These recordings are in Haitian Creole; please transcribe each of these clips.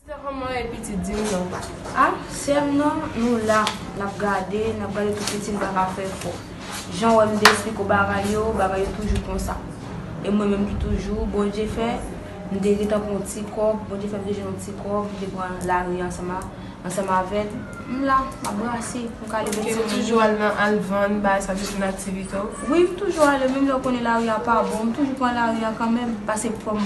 Sister kòman w ye pitit di m non pa. Ah sè m nan nou la nap gade nap gade tout piti m paka fè fò jan wè m te esplike w bagay yo bagay yo toujou konsa e mwen menm ki toujou Bondye fè m te gentan pran yon ti kòb Bondye fè m te jwenn yon ti kòb m te pran lari ansanm a ansanm avèl m la map brase pou m ka leve timoun yo. Ok ou toujou al nan al vann bagay sa toujou nan aktivite w? Wi m toujou ale menm lè w konnen lari a pa bon m toujou pran lari a kanmenm pase fò m.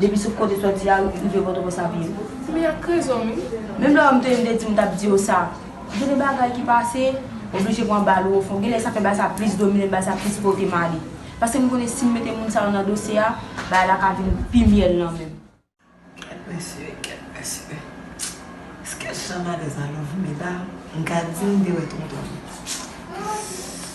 Depi sou kote soti a rive potoprens ap ye. Ou gen ak rezon wi. Menm lè wèm te mte di mtap diw sa. Gen de bagay ki pase, oblije pran bal ou ofon. Genlè sa fè bal sa plis dominem, bal sa plis potem ale. Paskem konnen sim mete moun sa yo nan dosye a, bagay la ka vin pi myèl nan menm. Kèt mesye, kèt mesye. Ske jan malèz la love meda, mka di mte wè tonton.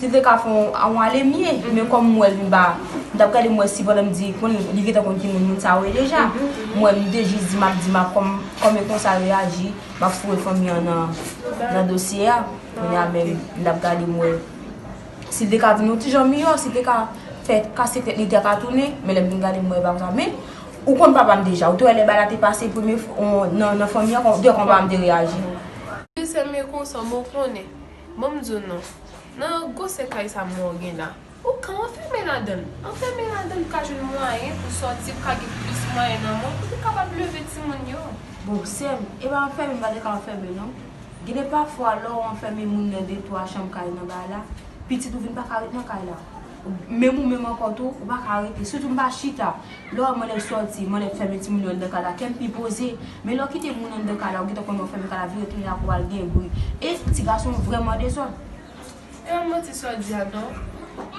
Sil te ka fon on ale mye men kòm m wèl m pa m tap gade m wè si pandan m di konn li gentan konn ki moun moun sa yo ye deja m wè m te jis di map di map kòm kòm e konsa reyaji map foure fanmi an nan nan dosye a kounye a menm m tap gade m wè sil te ka vin on ti jan miyò sil te ka fè kase tèt li taka tounen men lèm vin gade m wè e pa konsa men ou konn papa m deja ou te wè lè bagay la te pase premye fwa nan fanmi an ou te wè kòman papa m te reyaji. Sil sèm e konsa men w konnen. Banm diw non Nan gwosè kay sa mwen w gen la Ou ka anfème ladann Anfème ladann pou ka jwenn mwayen pou sòti pou ka gen plis mwayen nan men w pou kapab leve timoun yo. Bon sèm epa anfème m pa te ka anfème non Gen de pafwa lè w anfème moun nan de twa chanm kay nan bay la Pitit ou vin pa ka ret nan kay la Menm ou menm ankò tou, ou pa ka rete. Sitou m pa chita. Lè w wè m anlè sòti, m anlè fèmen timoun yo anndan kay la, kè m pi poze. Men lè w kite moun anndan kay la, ou gentan konnen w fèmen kay la, vire tounen ak ou al gen bri. E ti gason vrèman dezòd. E yon manti sa w di a tou.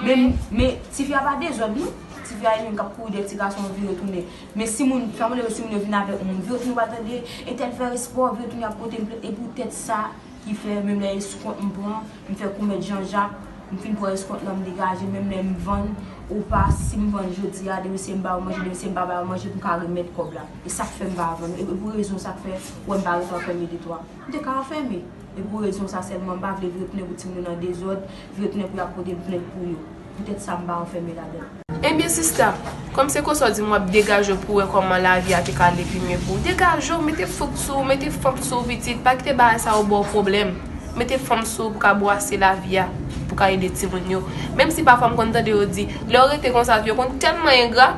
Men, men, tifi a pa dezòd non. Tifi a li menm k ap kouri dèyè ti gason an vire tounen. Men si moun, sa m anlè wè si moun yo vin avèk moun. Vire tounen w al tande, entèl fè espò, vire tounen ap pote m plent. E poutèt sa. Ki fè menm lè eskont m pran, m fè kou mèt Jan Jak, m fin pran eskont lan m degaje, menm lè m vann ou pa, si m vann jodi a, demen se m ba yo manje, demen se m pa ba yo manje, m ka remèt kòb la. E sa k fè m pa vann ou? E pou rezon sa k fè ou wè m pa rete anfème de toi? M te ka anfème. E pou rezon sa sèlman m pa vle vre tounen pou timoun yo nan dezòd, vre tounen pou y ap pote m plent pou yo. Petèt sa m pa anfème ladann. Ebyen sista, kòm se konsa w di m w ap degaje w pou w wè kòman lavi a te ka ale pi mye pou ou, degaje w, mete fouk sou ou, mete fanm sou ou pitit, pa kite bagay sa yo ba w pwoblèm. Mete fanm sou ou pou w ka bwase lavi a, pou w ka ede timoun yo. Menm si pafwa m konn tande yo di, lè w rete konsa yo konn tèlman engra,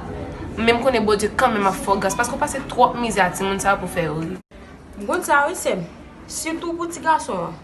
men m konnen Bondye kanmenm ap fè w gras paske w pase twòp mizè a timoun sa yo pou w fè yo ri. M konn sa wi sè m, sitou pou ti gason an.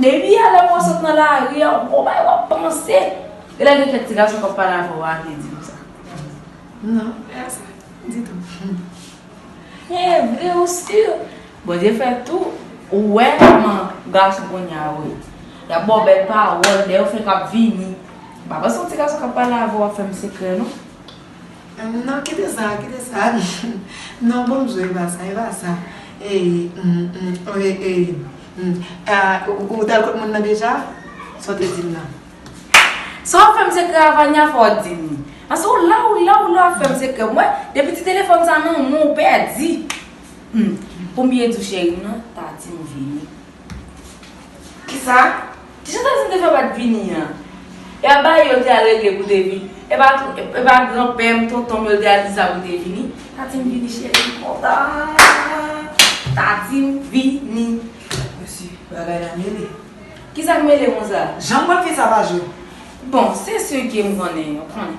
Depi a lè mwen sot nan lari a, gwo bagay wap panse. E lè gen kèk ti gason kap pale avèw a te diw sa? Non, e a sa? Ditou. E vre ou sur? Bondye fè tou, ou wè kòman gason kounye a yo ye. Yap baw bèl pawòl, lè yo fèk ap vini. Pa panse yon ti gason kap pale avèw ap fèm sekrè non. Non kite sa kite sa non bonjou epa sa epa sa ou tal kot moun nan deja sa w te dim nan. Sa wap fèm sekrè a Vania fò w dim li Paske ou la ou la ou la wap fèm sekrè m wè depi ti telefòn sa nan men w ou pèdi Humm poum byen di w cheri m nan ta di m vini. Kisa? Kisa Tayson te fè bat Vini an? Epa bay yo te al regle pou te vin epa epa gran pèm tontonm yo te al di sa pou te vini Tatim vini cheri m kontan Tatim vini Mesye bagay la mele Kisak mele konsa? Janm wè fi sa pa jwe. Bon se segue m konnen yo konnen.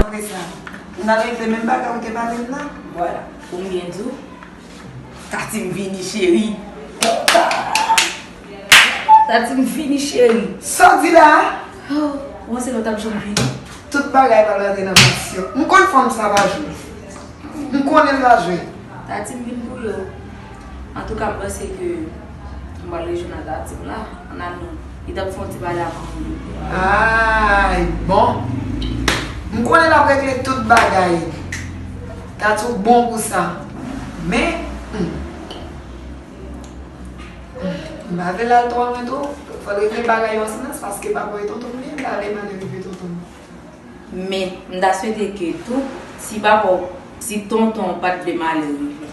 Apre sa, ou nan regle menm bagay ou te pale m nan. Vwala, ou byen di w. Tati m vini cheri. Tati m vini cheri. Sa w di la a? Ho, ou panse lòt ap janm vini? Tout bagay pral rantre nan kondisyon. M konn fanm sa pa jwe. M konnen l pa jwe. Tati m vin pou yo. Antouka m panse ke m pral rejoin ak Artem la an amour. Li tap fè yon ti pale ak moun li. Aayy bon m konnen lap regle tout bagay Tatou bon pou sa men humm m pa vle lal twò lwen twò fòl regle bagay yo an silans paske papa e tonton m byen pale malè rive tonton m. Men m ta swete ke tou si papaw si tontonw pat vle malè rive.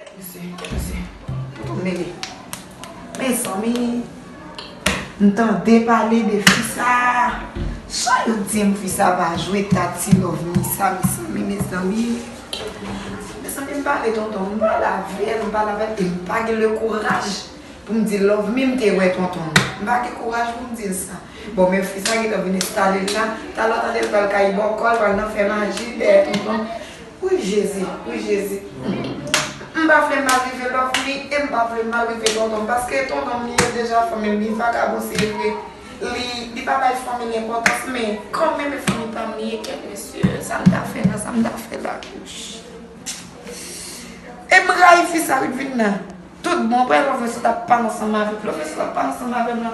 Kèt mesye, kèt mesye. Mwen tou mele. Mezanmi. M tande pale de fi sa. Jan yo di m fi sa pa jwe Tati Lovni sa mezanmi, mezanmi. Mezanmi m pale tonton m pale avè l, m pale avè l e m pa gen le kouraj pou m di l Lovni m te wè tonton m. M pa gen kouraj pou m di l sa. Bon men fi sa gentan vin enstale l la. Talè w tande l pral kayi bòkò, l pral nan fè maji dèyè tonton. Wi jezi wi jezi humm m pa vle mal rive love li em pa vle mal rive tontonm paske e tontonm li ye deja fanmil li vagabon se vre li li pa bay fanmil enpotans men kan menm e fanmi pam li ye kèt mesye sam ta fè la sam ta fè la wouch em rayi fi sa wi dvina. Tout bon pè love sot ap pale ansanm avèk love sot ap pale ansanm avèm la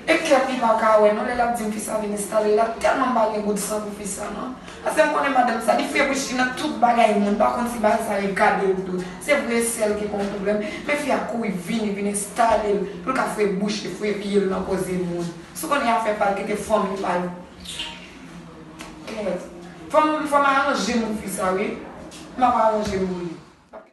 e kèm li paka wè non lè lap dim fisa vin enstale la tèlman mpa gen gout san pou fisa non paskem konnen madanm sa li febri chri nan tout bagay moun pa konn si bagay sa li gade ou tou se vre e sèl ki konn pwoblèm men fi a kouri vini vin enstalel poul ka fre bouch li fre pyel nan koze moun sou konnen afè pal kite fanmi pal kèt fòm fòm aranje moun pou fisa wi map aranjem pou li.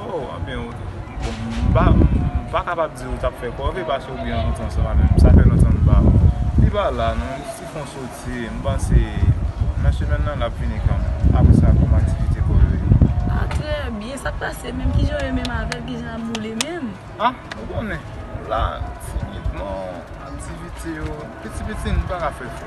Oh anfen ou m pa kapab di ou tap fè kòve paske ou byen rantre ansanm avè m. Sa fè lontan m pa wè w. Li pa la non, li ti fon soti. M panse nan semèn nan l ap vini kan menm. Apre sa kòm aktivite kòve yo. Ah trè byen, sa k pase menm? Kijan w ye menm avè l? Kijan l ap boule menm? Ah ou konnen, la timidman, aktivite yo, piti piti n pa ka fè fò.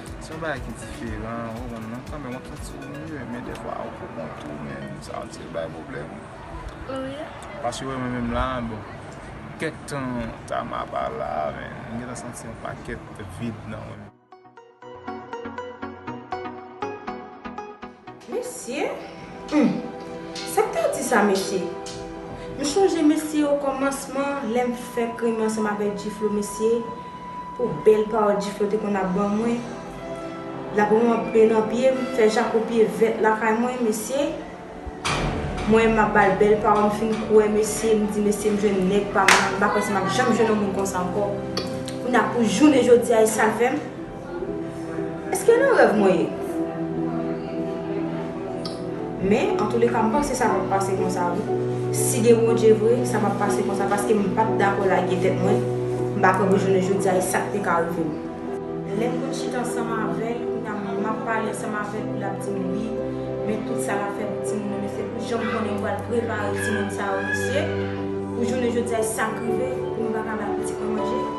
Se yon bagay ki diferan ou konprann non, kanmenm wap santi ou mye men defwa ou pou kont ou men sa yo ti bay pwoblèm. Paske wè mwen menm la bon kèk tan Tama pa la men m gentan santi yon pakèt vid nan mwen. Mesye! Humm! Sa m ta di sa mesye? M chonje mesye o kòmansman lè m fèk renmen ansanm avèk G-Flo mesye, pou bèl pawòl G-Flo te konn ap ban mwen. L ap ranpe nan pye m, fè jako pye vèt lakay mwen mesye. Mwen m ap ba l bèl pawòl m fin kwè mesye, m di mesye m jwenn nèg pa m nan, m pa panse m ap janm jwenn yon moun konsa ankò. Kounye a pou jounen jodi a e sa l fè m? Eske nan rèv mwen ye? Men antouleka m panse sa pap pase konsa wi. Si gen Bondye vre, sa pap pase konsa paske m pap dakò lage tèt mwen, m pa kwè pou jounen jodi a e sak te ka rive m. Lè m konn chita ansanm avè l, kounya map pale ansanm avè l, lap di m wi, men tout sa lap fè pou timoun yo mesye, pou jan m konnen yo pral prepare timoun sa yo mesye, pou jounen jodi a e sak rive pou m pa ka bay pitit mwen manje.